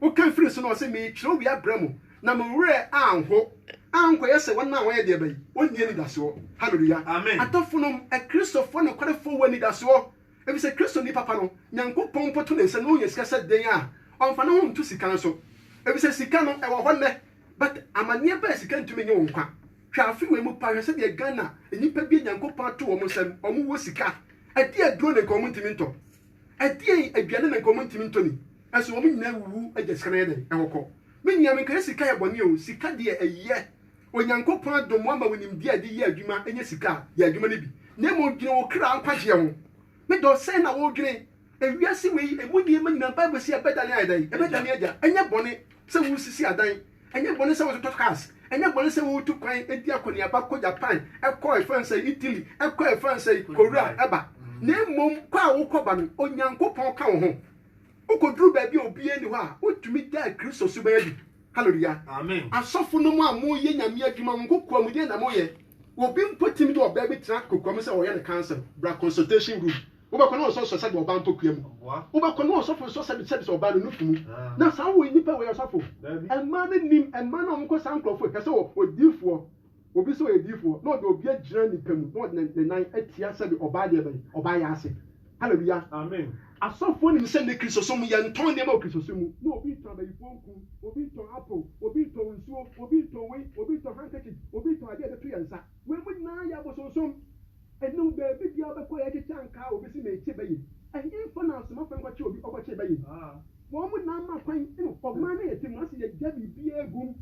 Wokan firii so no, ɔse, Meretwerɛ wei abrɛ mo, na mo werɛ anho, ankɔyɛ sɛ wɔn a wɔyɛ deɛ bɛn? Wɔnni anidasoɔ. Hallelujah! Amen. Adɔfonom, Akristofoɔ nokwarefoɔ wɔ anidasoɔ, efisɛ Kristoni papa no, Nyankopɔn mpo to ne nsa na ɔnya sika sɛ dɛn a, ɔmfa ne ho nto sika nso. Efisɛ sika no, ɛwɔ hɔ nnɛ, but amaneɛ ba a sika ntumi nye wo nkwa. Hwɛ afe wei mu paa, hwɛ sɛdeɛ Ghana nnipa bi a Nyankopɔn ato wɔn nsam, wɔwɔ sika, ɛdeɛ aduro ne nka wɔntumi ntɔ. Ɛdeɛn aduane na nka ɔmo ntumi ntɔ ni? Ɛso wɔn nyinaa awuwu agya sika no ayɛ dɛn ɛwɔ kɔ? Me nua me nka yɛ sika yɛ bɔne o sika deɛ ɛyɛ Onyankopɔn adom wama wo nimdeɛ a de yɛ adwuma ɛnyɛ sika a yɛ adwuma no bi na mmom dwene wo kra nkwagyeɛ ho me dɔ sɛn na wo dwene ewiase wei emu nneɛma nyinaa bible se ɛbɛdane ayɛ dɛn ɛbɛdane agya ɛnyɛ bɔne sɛ wo sisi adan Ɛnyɛ bɔne sɛ wototɔ cars, ɛnyɛ bɔne sɛ wotu kwan di akɔneaba kɔ Japan, kɔ ɛfa no sɛ Italy, kɔ ɛfa no sɛ Korea ba. Na mmom kɔ a wokɔba no, Onyankopɔn ka wo ho. Wokoduru baabi a obiara nni hɔ a, wotumi daa Kristo suban adi. Hallelujah! Asɔfonom a moyɛ Nyame adwuma, mo kokoam deɛn na moyɛ? Obi mpo tumi de ɔbaa bi tra kokoam sɛ ɔyɛ no counselling, bra consultation room. Wobɛkɔ na wɔsɔ sɔ sɛdeɛ ɔbaa mpɔkua mu. Wobɛkɔ na ɔsɔfo nsɔ sɛdeɛ sɛdeɛ sɛ ɔbaa no nufu mu. Na saa wɔ nnipa wɔ yɛ ɔsɔfo. Mmaa no nim mmaa no a wɔkɔ saa nkurɔfoɔ yi. Kɛsɛ wɔ odiifoɔ. Obi sɛ ɔyɛ diifoɔ na ɔde obi agyina nnipa mu na ɔde ne nan atia sɛdeɛ ɔbaa deɛ bɛn ɔbaa yɛ ase. Hallelujah. Amen. Asɔfoɔ nim sɛ nnɛ Kristosom yɛ ntɔn nneɛma wɔ Kristosom mu. Na obi tɔn abayifoɔ nku, obi tɔn apple, obi tɔn nsuo, obi tɔn wei, obi tɔn handkerchief, obi tɔn adeɛ a yɛde to yɛn nsa. Wei mo nyinaa yɛ abosonsom. Enom beebi biara ɔbɛkɔ yɛ kyekye ankaa a obesi mekye bɛyɛ ɛhenfa na asomafo nkɔkye obi ɔkɔkye bɛyɛ wɔn mo na ama kwan ɛna ɔman no yɛ te mo ase yɛ gya biribiara gum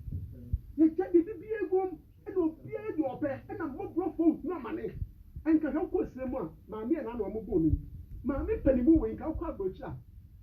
yɛ gya biribiara gum ɛna obiara deɛ ɔpɛ ɛna mmɔborɔ fɔ ohunu amane ɛnka hwɛ wokɔ serɛ mu a maame ɛna na wɔn bɔ no yi maame panimu wei nka wokɔ abrokyire a.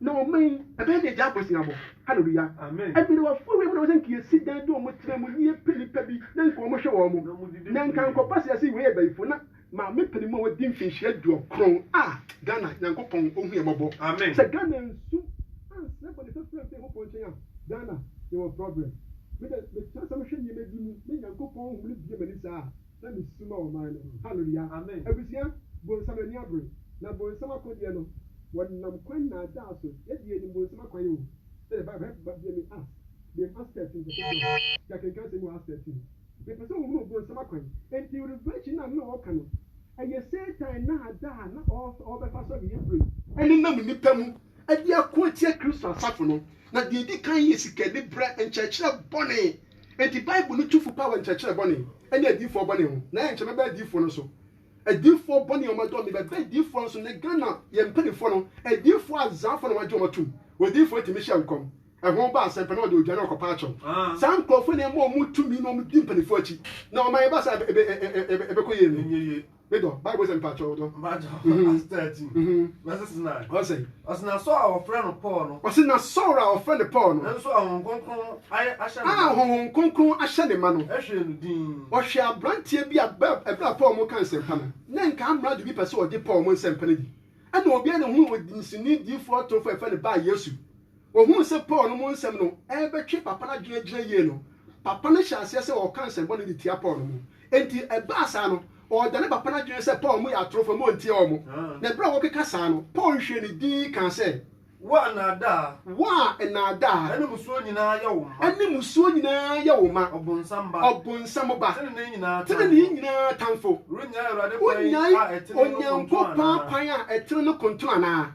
Na ɔman yi, ɛbɛyɛ deɛ gyaa abusuabɔ. Hallelujah. Amen. Ɛberewafoɔ wei mu na wɔsɛ nka yɛsi dan de wɔn tena mu ne yɛpɛ nipa bi na nka wɔn hwɛ wɔn. Na nka nkɔba sɛ yɛse wei yɛ bayifoɔ na maame panin mu a wadi mfinhyia duokron ah Ghana Nyankopɔn ɔhu yɛn mmɔbɔ. Amen. Sɛ Ghana ansu ansrɛ bɔne fafiri amfiri Nyankopɔn nkyɛn a Ghana yɛwɔ problem. Me dɛ metra asɛm hwɛ nneɛma bi mu na Nyankopɔn honhom no bue m'ani saa a. na me su ma ɔman no ho. Hallelujah. Amen. Abusua, bonsam ani abere, na bonsam akodeɛ no, wɔnam kwan nnaadaa so, yɛdeɛ yɛnim bonsam akwan o, sɛdeɛ Bible, hɛ, ba bia me Acts, bem Acts thirteen verse John, yɛ akenkan asɛm wɔ Acts thirteen, mepɛ sɛ wohunu bonsam akwan, enti revelation no a na ɔɔka no, ɛyɛ Satan nnaadaa a na ɔɔbɛfa so awieyɛ bere yi. ɛnenam nnipa mu de ako atia Kristo asafo no, na deɛ ɛdi kan yɛ sikaniberɛ, nkyerɛkyerɛ bɔne, Enti Bible no tu fo paa wɔ nkyerɛkyerɛ bɔne ne adiyifoɔ bɔne ho. Na yɛnkyɛ mɛba adiyifoɔ no so. Adiyifoɔ bɔne a wɔadɔm me bɛba adiyifoɔ no so. Nnɛ Ghana yɛn mpaninfoɔ no adiyifoɔ azaafoɔ na wɔagye wɔn atom. Odiyifoɔ tumi hyɛ nkɔm, ɛho ba asɛm pɛ na ɔde ogya na ɔkɔpa akyɛw. Saa nkurɔfoɔ yi na ɛma wɔn tumi na wɔdi mpaninfoɔ akyi. Na wɔma yɛn ba saa a ɛbɛkɔ yie no. Medɔ Bible sɛ mpakyɛ ɔdɔ. Mpakyɛ mhm. as thirteen. Mhm. Verses nine. Ɔsɛ. Ɔsɛ na Saul a wɔfrɛ no Paul no. Ɔsɛ na Saul a wɔfrɛ no Paul no. Nanso ahohom kronkron ayɛ ahyɛ ne ma. A ahohom kronkron ahyɛ ne ma no. Ɛhwɛ no din. Ɔhwɛ aberanteɛ bi a ɛbrɛ a Paul mo ka nsɛmpa no. Na nka amrado bi pɛ sɛ ɔgye Paul mo nsɛmpa no di. Ɛna obiara na ohun odinsini diifoɔ atorofo a ɛfrɛ no Bar Yesu. Ohuu sɛ Paul no mu nsɛm no rebɛtwe papa no adwene agyina yie no, papa no hyɛɛ aseɛ sɛ ɔreka nsɛm bɔne de tia Paul no mu. Enti ɛbaa saa no, ɔredane papa no adwene sɛ Paul mu yɛ atorofoɔ ma ɔntie wɔn. Na ɛberɛ a wɔrekeka saa no, Paul hwiee ne dinn kaa sɛ. Wo a nnaadaa. Wo a nnaadaa. Ɛne mmusuo nyinaa yɛ wo mma. Ɛne mmusuo nyinaa yɛ wo mma. Ɔbonsam ba. Ɔbonsam ba. Tenenee nyinaa tamfo. Tenenee nyinaa tamfo. Worennyae Awurade kwan a ɛtene no kontono anaa? Wonnyae Onyankopɔn kwan a ɛtene no kontono anaa?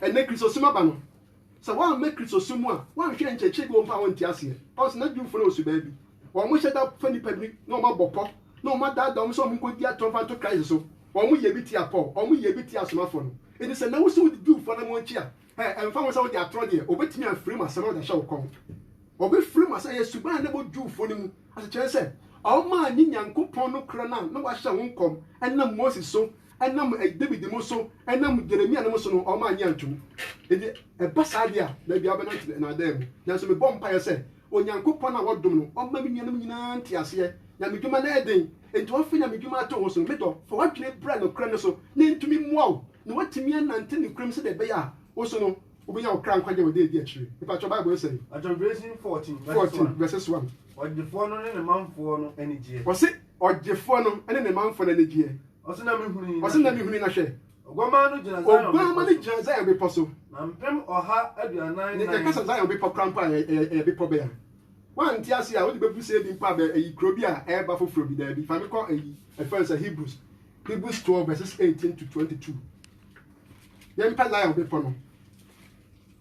Ɛnnɛ Kristosom aba no, sɛ woammɛ Kristosom mu a, woanhwɛ nkyerɛkyerɛ bi wɔ mu a wonte aseɛ. Ɔn sɛ na Jewfo no wɔ subaa bi. Wɔn hyɛ da fa nnipa bi na wɔn abɔ pɔ, na wɔn adaadaa wɔn sɛ wɔn nkɔdi atoro mfa nto Christ so. Wɔn yɛɛ bi tia Paul, wɔn yɛɛ bi tia asomafoɔ no. Enti sɛ nnɛ wo se wodi Jewfoɔ anammɔn akyi a, ɛ, ɛmfa ho sɛ wodi atoro deɛ, wɔbɛtumi afiri mu asɛm a wode ahyɛ wo kɔn. Wɔbɛfiri mu asɛm, ɛyɛ suban a na ɛbɔ Jewfoɔ no mu asekyerɛ sɛ wɔn a ne Nyankopɔn no korɛ no a na wɔahyɛ ho nkɔm ɛnam Moses so nam Dawid mu so, nam Yeremia nom so no, wɔn annye antom. Enti ɛba saa deɛ a, baabi a wobɛnante no, nnaadaa mu. Nanso mebɔ mpaeɛ sɛ Onyankopɔn a wɔdom no, ɔmma me nuanom nyinaa nte aseɛ. Nyamedwuma no yɛ den, enti wɔafa nyamedwuma ato wo so no, me dɔ, fa w'adwene bra nokorɛ no so, na ɛntumi mmoa wo na woatumi anante nokorɛ mu sɛdeɛ ɛbɛyɛ a wo nso no, wobɛnya wo kra nkwagyeɛ wɔ ɛda a ɛdi akyire. Mepakyɛw, Bible no sɛn? John Version fourteen verses one. Ɔdefoɔ no ne ne manfoɔ no anigyeɛ. Ɔse. Ɔgyefoɔ no ne ne manfoɔ no anigyeɛ. Ɔse na mehunui na hwɛ. Oguammaa no gyina Zion bepɔ so. Na mpem ɔha aduanan nan. Yɛka sɛ Zion bepɔ koraa mpo a ɛyɛ bepɔ bɛn a? Woante ase a wode bɛbu sɛ bi mpo a ayi kuro bi a ɛreba foforɔ bi daabi. Fa me kɔ ayi ɛfɛn sɛ Hebrews Hebrews 12 verses 18 to 22. Yɛmpɛ Zion bepɔ no.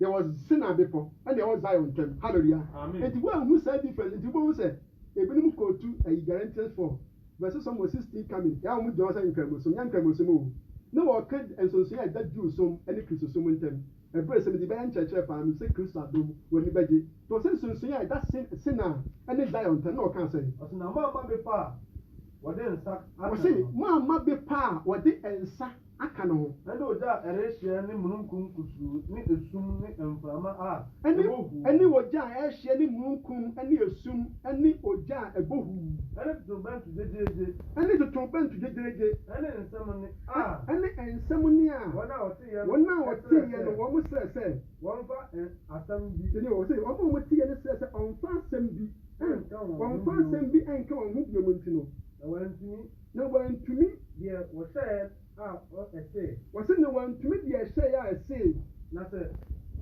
Deɛ wɔ Sinai bepɔ ɛne ɛwɔ Zion ntɛm hallelujah enti woanhu saa difference enti wobɛhu sɛ ebinom kootu ayi Galatians four verse sɔm wɔ sixteen coming ɛa wɔn gyina hɔ sɛ nkramosom nyɛ nkramosom oo na wɔka nsonsonoɛ a ɛda Jew som ɛne Kristo som ntɛm ɛberɛ sɛ mede bɛyɛ nkyerɛkyerɛ paa mepɛ sɛ Kristo adom wɔn ani bɛgye nti wɔsɛ nsonsonoɛ a ɛda Sinai ɛne Zion ntɛm na wɔkaa sɛ. Ɔse na moamma bepɔ a wɔde nsa aka no. Ɔse moamma bepɔ a wɔde nsa. aka no ho. Ɛne ogya a ɛrehyeɛ ne mununkum kusuu ne esum ne mframa a ɛbɔ huu. Ɛne ogya a ɛrehyeɛ ne mununkum ne esum ne ogya a ɛbɔ huu. Ɛne totorobɛnto gyegyeegye. Ɛne totorobɛnto gyegyeegye. Ɛne nsɛm nne a. Ɛne nsɛm nne a. Wɔn a wɔteeɛ no. Wɔn a wɔteeɛ no wɔn srɛ sɛ. Wɔmfa asɛm bi. Tie o, sɛ wɔn a wɔteeɛ no srɛ sɛ wɔmfa asɛm bi. Nka wɔn ho bio. Wɔmfa asɛm bi nka wɔn ho bio nti no. Na wɔantumi. Na wɔantumi deɛ wɔhyɛɛ a ɛsee. Wɔse na wɔantumi deɛ ɛhyɛɛ a ɛsee. Na sɛ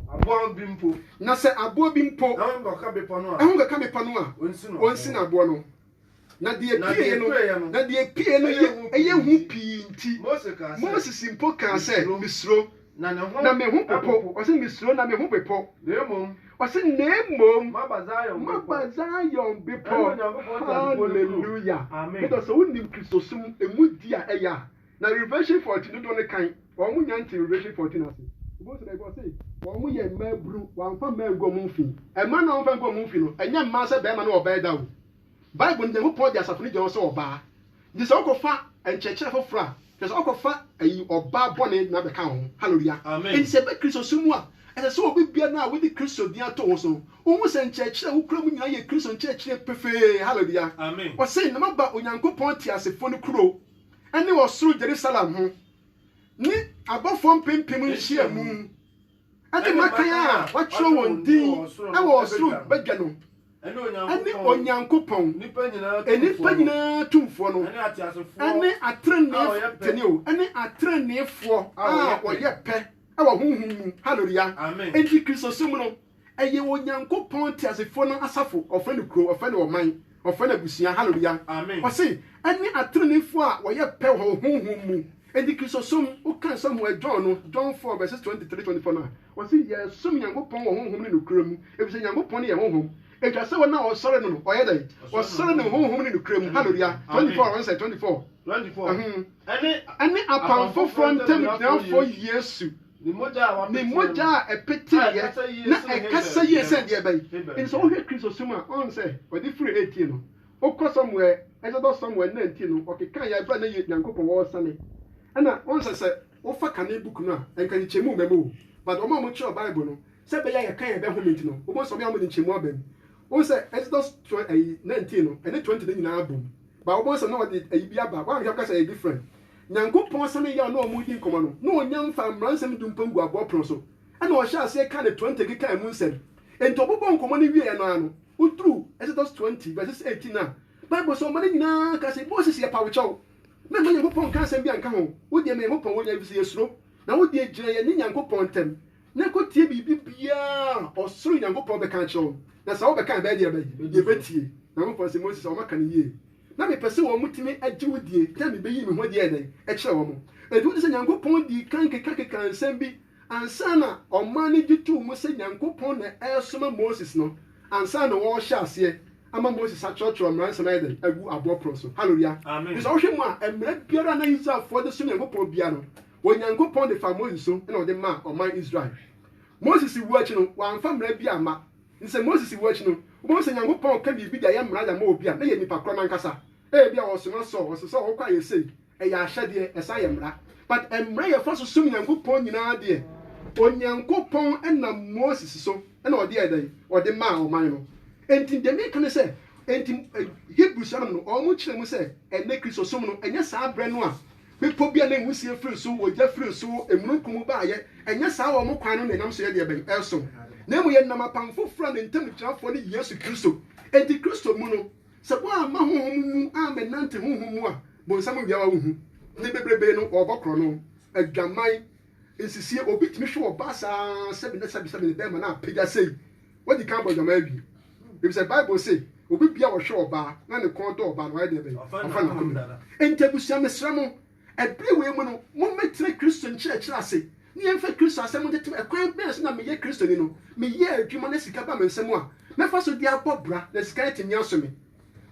aboɔ bi mpo. Na sɛ aboɔ bi mpo. Ɛho nkɔka bepɔ no a. Ɛho nkɔka bepɔ no a. Ɔnsi no aboɔ no. Na deɛ ɛpueeɛ no. Na deɛ ɛpueeɛ no yɛ hu pii nti. Moses mpo kaa sɛ, Mesuro. Na ne ho. Na me ho popo. Ɔse mesuro na me ho bepɔ. Na mmom. Ɔse na mmom. Maba Zion bepɔ. Maba Zion bepɔ. Ɛne Onyankopɔn teasefoɔ no kuro. Hallelujah. Amen. Medɔ sɛ wonim Kristosom emu di a ɛyɛ a, na Revelation 14 dodoɔ no kan, wɔn nya nte Revelation 14 ase. Wobɛhu sɛ baabi hɔ ɔse, wɔn yɛ mmaa buru, wɔamfa mmaa angu wɔn mfi. Mmaa no a wɔamfa angu wɔn mfi no, ɛnyɛ mmaa sɛ barima ne ɔbaa ɛda o. Bible no, Nyankopɔn de asafo no gye wɔn sɛ ɔbaa. Nti sɛ wokɔfa nkyerɛkyerɛ foforɔ a Kyerɛ sɛ ɔkɔfa ayi ɔbaa bɔne na bɛka wo ho. Hallelujah. Amen. Enti sɛ ɛba Kristosom mu a, ɛsɛ sɛ obi biara no a wode Kristo din ato wo ho so no, wohu sɛ nkyerɛkyerɛ a wokura mu nyinaa yɛ Kristo nkyerɛkyerɛ pefee. Hallelujah. Amen. Ɔse, Na maba Onyankopɔn teasefoɔ no kuro, ne ɔsoro Jerusalem ho, ne abɔfoɔ mpempem nhyiamu, ɛne mmakan a wɔakyerɛw wɔn din wɔ ɔsoro badwa no, ɛne Onyankopɔn, nnipa nyinaa tumfoɔ no, ɛne atreneefo, ɛne atreneefoɔ a wɔyɛ pɛ wɔ honhom mu. Haleluya! Enti Kristosom no, ɛyɛ Onyankopɔn teasefoɔ no asafo, wɔfrɛ no kurow, wɔfrɛ no ɔman. Ɔfrɛ n'abusua, Haleluya! Ɔse, Ɛne ateneneefoɔ a wɔyɛ pɛ wɔ honhom mu. Enti Kristosom, wokan Samuel John no, John four verses twenty three, twenty four, no a, ɔse, Yɛsom Nyankopɔn wɔ honhom ne nokorɛ mu, efisɛ Nyankopɔn no yɛ Honhom. Ɛtwa sɛ wɔn a wɔsɔre no no, ɔyɛ dɛn? Ɔsɔre no honhom ne nokorɛ mu. Haleluya! Twenty four, wɔn sɛ, twenty four. Ɛne apam foforɔ ntam gyinafoɔ Yesu. Me mogya a ɛpeteeɛ na ɛkasa yie sɛn deɛ bɛn? Enti sɛ wohwɛ Kristosom a, ɔn sɛ ɔde firi eighteen no, wokɔ Samuel, Exodus Samuel nineteen no, ɔkeka yɛ aberɛ a na yɛ Nyankopɔn wɔɔ sane. Ɛna ɔn sɛ sɛ wofa kane book no a, ɛnka nkyekyɛmu mma mu o, but wɔn a wɔkyerɛw Bible no, sɛ ɛbɛyɛ a yɛka yɛ bɛhome nti no, wobɛhu sɛ wɔn a wɔde nkyɛmu aba mu. Wohu sɛ Exodus twen ɛyi nineteen no, ɛne twenty no nyinaa bom, but wobɛhu sɛ na wɔde ɛyi bi aba, woanhwɛ a wobɛka sɛ ɛyɛ different. Nyankopɔn sane yɛɛ ɔne wɔn redi nkɔmmɔ no na ɔnyan faa mmaransɛm du mpam gu aboɔ pono so, ɛna ɔhyɛɛ aseɛ kaa ne twenty kekaa ɛmu nsɛm. Enti ɔbobɔɔ nkɔmmɔ no wieɛ no ara no, woduruu Exodus twenty verses eighteen a, Bible sɛ ɔma no nyinaa kaa sɛ, Moses yɛ pawkyɛw, mɛmma Nyankopɔn nka asɛm bi anka ho, wodeɛ ma Nyankopɔn wɔ nyinaa ɛfiri sɛ yɛsuro, na wodeɛ gyina yɛne Nyankopɔn ntam, na kɔtie biribi biara a ɔsoro Nyankopɔn bɛka akyerɛ wɔn, na sɛ wɔbɛka a ɛbɛyɛ deɛ bɛn? Yɛbɛtie. Nyankopɔn se, Mose, sɛ wɔaka no yie, na mepɛ sɛ wɔtumi agye wo die, na mebɛyii me ho adi ayɛ dɛn? Kyerɛ wɔn. Enti wote sɛ Nyankopɔn dii kan kekakekaa nsɛm bi ansa na ɔman no gye too mu sɛ Nyankopɔn na ɛresoma Moses no, ansa na wɔrehyɛ aseɛ ama Moses atwerɛtwerɛ mmara nsɛm ayɛ dɛn? Agu aboɔ pono so. Hallelujah. Amen. Nso wohwɛ mu a, mmara biara a na Israelfoɔ de som Nyankopɔn biara no, Onyankopɔn de faa Moses so na ɔde maa ɔman Israel. Moses wu akyi no, wamfa mmara bi amma. Enti sɛ Moses wu akyi no, wobɛhu sɛ Onyankopɔn ka biribi de ayɛ mmara de ama obi a, na ɛyɛ nipa korɔ no ankasa. Ebia wɔsoma Saul, wɔse, Saul, hokɔ ayɛ sei. Ɛyɛ ahyɛdeɛ, ɛsan yɛ mmara. But mmara a yɛfa so som Nyankopɔn nyinaa deɛ, Onyankopɔn nam Moses so na ɔde yɛɛ dɛn? Ɔde maa ɔman no. Enti deɛ meka ne sɛ, enti Hebrewsfoɔ nom no, wɔkyerɛ mu sɛ ɛnnɛ Kristosom no, ɛnyɛ saa berɛ no a Bepɔ bi a na nwusie firi so, ogya firi so, emununkum baeɛ. Ɛnyɛ saa wɔn kwan no na ɛnam so yɛ deɛ bɛn? Ɛresom. Na mmom yɛnam apam foforɔ a ne ntamgyinafoɔ ne Yesu Kristo. Enti Kristo mu no, sɛ woamma Honhom mu ammɛnante Honhom mu a, bonsam nwiawa wo hu. Ne bebrebe no, wɔrebɔ korɔno. Adwaman, Nsisie, Obi tumi hwe ɔbaa saa ara sɛbe na sɛbe sɛbe ne bɛrima no apagya sei. Wadi kan abɔ adwaman awie. Efisɛ Bible se, Obi bia a ɔhwe ɔbaa na ne kɔn dɔ ɔbaa no, wayɛ deɛ bɛn? Wafa no akoma mu. Enti abusua, mesrɛ mo, ɛberɛ wei mu no, mommɛtena Kristo nkyerɛkyerɛ ase, na yɛmfa Kristo asɛm ntetema. Ɛkwan bɛn so na meyɛ Kristoni no? Meyɛ adwuma na sika ba me nsam a, mɛfa so de abɔ bra, na sika no atumi aso me.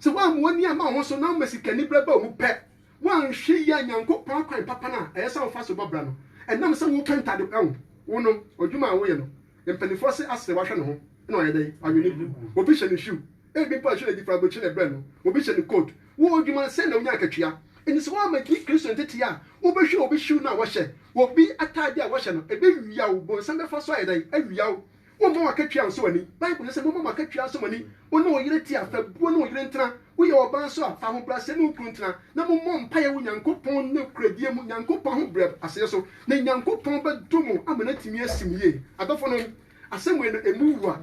Sɛ woammoa nneɛma a wo ho so na woma sikaniberɛ ba wo mu pɛ, Woanhwɛ yie a Nyankopɔn akwan papa no a ɛyɛ sɛ wofa so bɔ bra no, ɛnam sɛ wopɛ ntade pa ho, wo no, adwuma a woyɛ no, mpaninfoɔ se asere wahwɛ ne ho na wayɛ dɛn? Wawe ne gu. Obi hyɛ no shoe, ebi mpo ɔhyɛ no adi frabotse na ɛbrɛ no, obi hyɛ no coat. Wo adwuma sɛn na wonya akatua? Enti sɛ woammɛdi Kristo ntetee a, wobɛhwɛ obi shoe no a wɔhyɛ, obi atade a wɔhyɛ no, ɛbɛwia wo, bonsam bɛfa so ayɛ dɛn? Awia wo. Womma w'akatua nsɔ w'ani. Bible ka sɛ, Momma mo akatua nsɔ mo ani. Wo ne wo yere te a, fa buo ne wo yere ntena. Woyɛ ɔbaa nso a, fa ahobrɛaseɛ ne wo kunu ntena, na mommɔ mpaeɛ wɔ Nyankopɔn nokorɛdie mu, Nyankopɔn ahobrɛaseɛ so, na Nyankopɔn bɛdom mo ama no atumi asi mo yie. Adɔfonom, asɛm wei no, ɛmu wu a,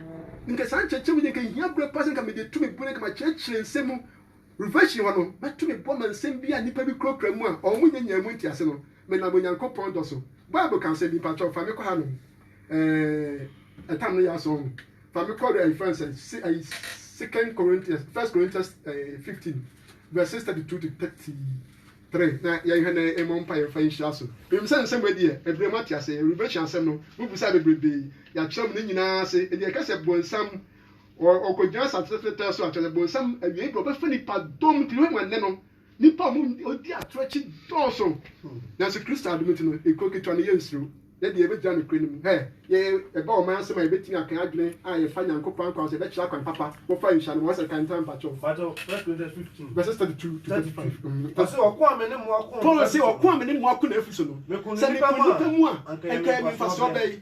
nka saa nkyerɛkyerɛmu yi anka ɛhia berɛ paa sɛ anka mede tu me bo na anka makyerɛkyerɛ nsɛm mu. Revelation hɔ no, mɛto me bo ama nsɛm bi a nnipa bi kurakura mu a wɔnnya nyaa mu ntease no, menam Onyankopɔn dɔ so. Bible ka nsɛm bi, mpakyɛw, fa me kɔ hanom. Eh, ɛtam no yɛ asɔ ho. Fa me kɔ ayi fɛn sɛ si ayi Second Corinthians, First Corinthians eh, 15 verses 32 to 33 na yɛnhwɛ na ɛmmɔ mpa yɛmfa nhyira so. Menim sɛ nsɛm wei deɛ ɛbrɛ mu ate ase, revelation asɛm no mobisa bebrebe, yɛakyerɛ mo ne nyinaa ase, ɛde ɛka sɛ bonsam ɔkɔgyina asase tɛtɛtɛ so a, kyerɛ sɛ bonsam awiei berɛ ɔbɛfa nipa dɔm nti hwɛ ma nnɛ no Nnipa a wɔdi atoro akyi dɔɔso, nanso Kristo adom nti no, ekuo ketewa no, yɛnsuro. Yɛn deɛ, yɛbɛgyina nokorɛ no mu. Hɛ! Yɛn, yɛba ɔman ase ma yɛbɛtumi aka adwene a yɛfa Nyankopɔn ankwa ho sɛ yɛbɛkyerɛ akwan papa. Mofa nhyia no, wɔasɛ kan ntam mpakyɛw. Mpakyɛw, First Corinthians fifteen. Verses thirty two to thirty five. Ɔse, Ɔko a me ne mo ako. Paul se, Ɔko a me ne mo ako na afiri so no, sɛ meko nnipa mu a, anka ɛyɛ me mfasoɔ bɛn?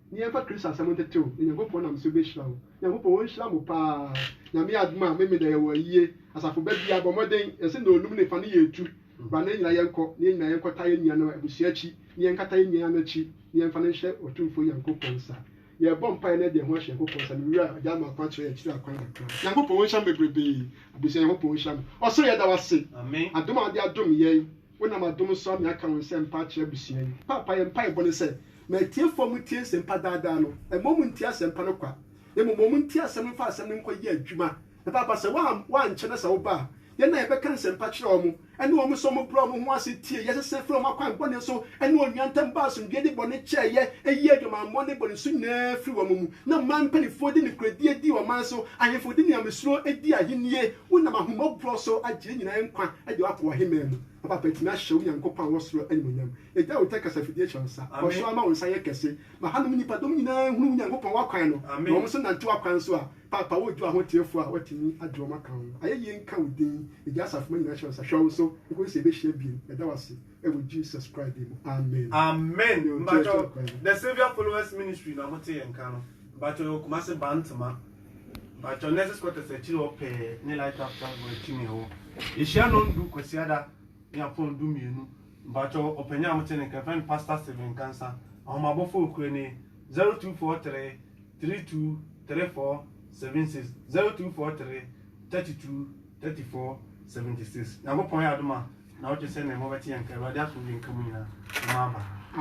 Nea ɛfa Kristo asɛm ho ntetew no, Nyankopɔn nam so behyira wo. Nyankopɔn onhyira mo paa. Nyame adom a, Memeneda yɛwɔ ayie. Asafo ba biaa, bɔ mmɔden, yɛse nnɔɔnum ne fa no yɛ etu. Bra na yɛn nyinaa yɛnkɔ, na yɛn nyinaa yɛnkɔtaa yɛn nua no abusua akyi, na yɛnkata yɛn nua no akyi, na yɛmfa no nhyɛ Otumfoɔ Nyankopɔn nsa. Yɛrebɔ mpaeɛ na yɛde yɛn ho ahyɛ Nyankopɔn nsa, me Wura, Agya ama akwan akyerɛ yɛn akyiri akwan kakra. Nyankopɔn onhyira mo bebrebee. Abusua, Nyankopɔn onhyira mo. Ɔsoro yɛda wo ase. Adom a wode adom yɛn. Wonam adom so ama yɛaka wo nsɛmpa akyerɛ abusua yi. Paapa, yɛn mpaebɔ ne sɛ, ma atiefo a wɔtie nsɛmpa daa daa no, mma wɔntie asɛmpa no kwa, na mmom ma wɔntie asɛm no mfa asɛm no nkɔ yɛ adwuma. Na Paapa, sɛ woankyɛ na sɛ woba a, yɛn a yɛbɛka nsɛmpa akyerɛ wɔn, ɛne wɔn nso a wɔbrɛɛ wɔn ho ase tiee, yɛsesa firii wɔn akwan bɔne so, ɛne onua ntam baa asomdwoe de bɔne kyɛeɛ, yii adwamammɔ ne bɔne su nyinaa firii wɔn mu, na ɔman mpanimfoɔ de nokorɛdie dii ɔman so, ahemfo de nyamesuroo dii ahennie. Wonam ahummɔborɔ so agye yɛn nyinaa nkwa de akɔ w'ahemman mu. Ɔpaapa tumi ahyɛ wo Nyankopɔn a ɔwɔ soro animuonyam. Yɛgya wo nkyɛn kasafidie hyɛ wo nsa. Kɔ so ara ma wo nsa nyɛ kɛse. Ma hanom nnipadɔm nyinaa nhunu wo Nyankopɔn w'akwan no, na wɔn nso nante w'akwan so a, Paapa woredwo ahoteefoɔ a wɔatumi agye wɔn aka ho. Ayɛyie nka wo din. Yɛgya asafomma nyinaa hyɛ wo nsa. Hwɛ wo so nkɔsi sɛ yɛbɛhyia bio. Yɛda wo ase wɔ Jesus Christ din mu. Amen. Amen mpakyɛw the saviour followers ministry na mo te yɛn nka no mpakyɛw yɛwɔ Kumasi Bantama. Mpakyɛw nurses quarters akyiri hɔ pɛɛ ne light up tank wɔ akyi ne ɛwɔ. Ehyia non du kwasiada ne apɔn du mmienu. Mpakyɛw ɔpanyin a mo te ne nka fɛn no pastor Steven Kansa. Ahomabɔfo okura ni 0243 32 34 76 0243 32 34 76. Nyankopɔn yɛ adom a na ɔtwe sɛ ne mo bɛte yɛn nka Awurade asom yɛn nka mu nyinaa. Mo mma aba.